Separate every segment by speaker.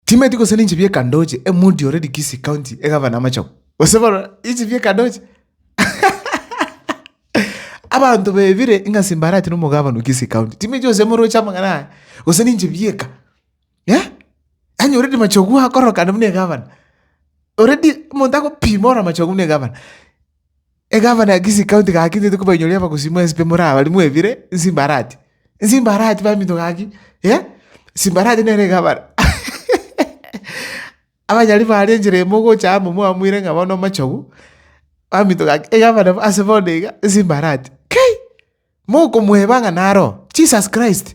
Speaker 1: Timeti gose ninche bi'ekandoche, emudi ore Likisi County, egavana amachagu, gose barora inche bi'ekandoche? Abanto bebire ng'a simbarati nomogavana o Kisii County. Timeti gose emoroche amang'ana aya, gose ninche bi'eka. Eh? Anyorire machagu akorokana buna egavana. Already omonto agopima ore amachagu buna egavana. Egavana ya Kisii County gaki ntete kobainyoria abagosii mwe nsipe more abari mwebire nsimbarati nsimbarati baminto gaki eh simbarati nere egavana abanyari bare enchera emo ogocha amo mwamuire ng'a bono omochogu baminto gaki egavana ase bono iga nsimbarati kei! mokomweba ng'a naro Jesus Christ.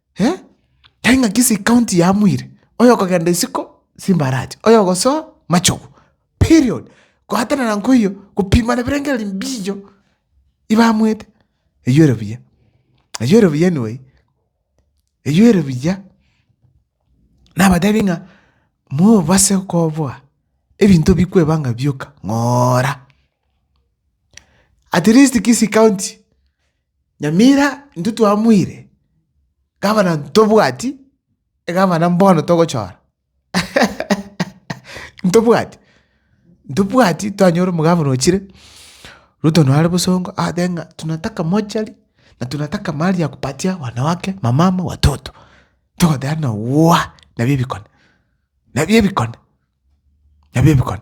Speaker 1: Eh, tari ng'a kisi county yamuire, oyokogenda isiko simbarache, oyogosoa machogu, period. Goatanana nkoiyo, gopimana birengererio mbicho ibamoete, eywo ere buya, eywo ere buya anyway, eywo ere buya. Nabatebi ng'a mobase koboa ebinto bikwebanga bioka ng'oora, at least kisi county. Nyamira intwe twamoire gavana ntobwati egavana mbono togochora. Ntobwati, ntobwati twanyora omogavana ochire, Ruto nare bosongo abaate ng'a tunataka mochari na tunataka mahali ya kupatia wanawake, wamama, watoto. Togoteba ng'a woowa! Nabio ebikone, nabio ebikone, nabio ebikone.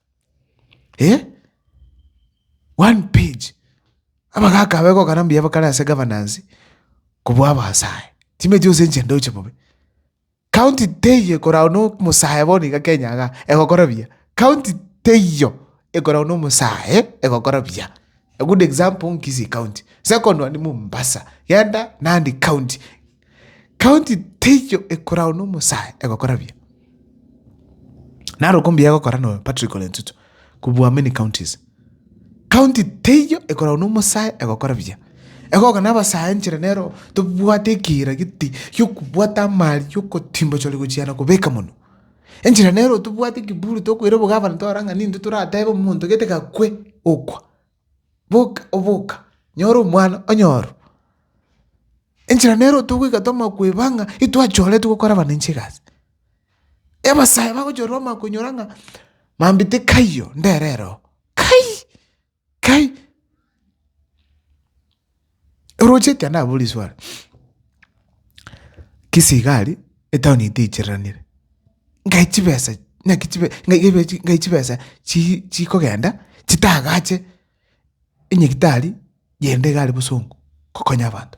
Speaker 1: eh one page abagaka aba egokana mbuya bakare ase egavanance kobua abasae chimeti gose enchera ndoche bobe. County teiyo ekoragwa na omosae bono iga kenya igaa egokora buya, county teiyo ekoragwa na omosae egokora buya. A good example nkisii county, second one mombasa, genda nandi county. County teiyo ekorao nomosae egokora buya. Narok mbuya egokora no Patrick Ole Ntutu kubua many counties. County teiyo ekorao nomosae egokora buya. Egoka na abasae enchera nero tobwate ekiira giti yokobwata amari yokotimba chori gochiana kobeka mono. Enchera nero tobwate ekiburi tokoira obo gavana torora ng'a ninde toratebe omonto gete gakwe okwa. Boka, oboka, nyora omwana, onyoro. Enchera nero togoika twamanya koeba ng'a intwachoretwe gokora abana inche egasi. Abasae bagochorera omanya konyora ng'a mambia tikaiyo, ndere ere oo. Kai! Kai! Oroche ekia nabo riswari, Kisii iga aria etown etaichereranire, nkae chibesa naki chibe nkae chibesa chi chikogenda chitagache enyagitari yende iga aria bosongo kokonya abanto.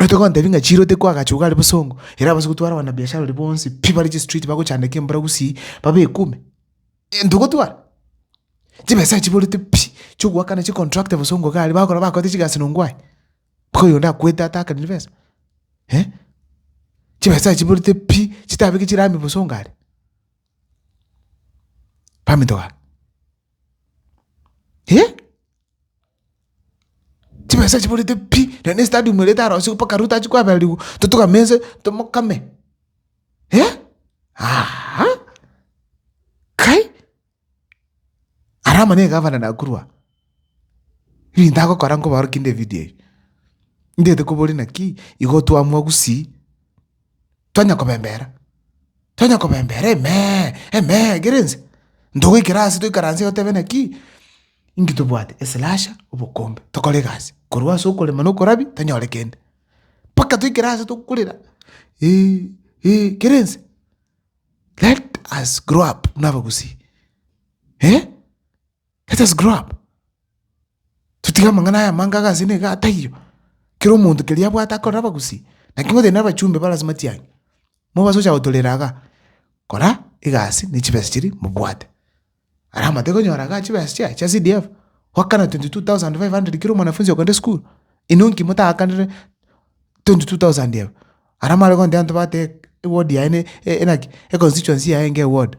Speaker 1: Ogotoka gontebia ng'a chiro teko agacho iga are bosongo, ere abase gotwara abanabiashara baria bonsi pi bare chistreet bagochandeka embura gusii, babe ekume. Ntogotwara? Chibesa echio chiborete pi, chiogoakana chicontractor bosongo iga are, bagokora bakoete chigasi nongo aye, mpaka oyonde akwete atakaniri besa? Eh, chibesa echio chiborete pi, chitabeke chirami bosongo are. Baminto ba, eh. Chimesa chiborete pi, na ne stadium erete arosigo mpaka Ruto achi koabererigwa, totogame inse tomokame eh, aaha, kai, aramanye egavana nakorwa aa. Ebinto agokora nkobarokia nde evidio eye, ndete koboria naki igo twamwa gusii. Tonya kobembera, tonya kobembera Amen, Amen, ekero ense. Ntogoikera ase toikaranse iga totebe naki? Inki tobwate? Eslasha, obokombe. Tokore egasi. Korwa ase okorema na okorabia, tonyore kende. Mpaka toikere ase tokorera, eh, eh, ekero ense. Let us grow up buna abagusii, eh. Let us grow up. Totige amang'ana aya amange agase na iga ataiyo. Kera omonto keria abwate akorere abagusii. Naki ngotebi nere abachumbe bare ase matiang'i. Mobase gocha gotorera igaa. Kora egasi ne chibesa chiria mobwate. Ara amateke onyora igaa chibesa chiaye chia CDF. Goakana 22,500 kera omwanafunzi okogenda esukuru. Inwe nki motaakanire 22,000 ebe. Ara mare gontebia abanto bateba ewodi yaye ne enaki econstituency yaye nge ewodi.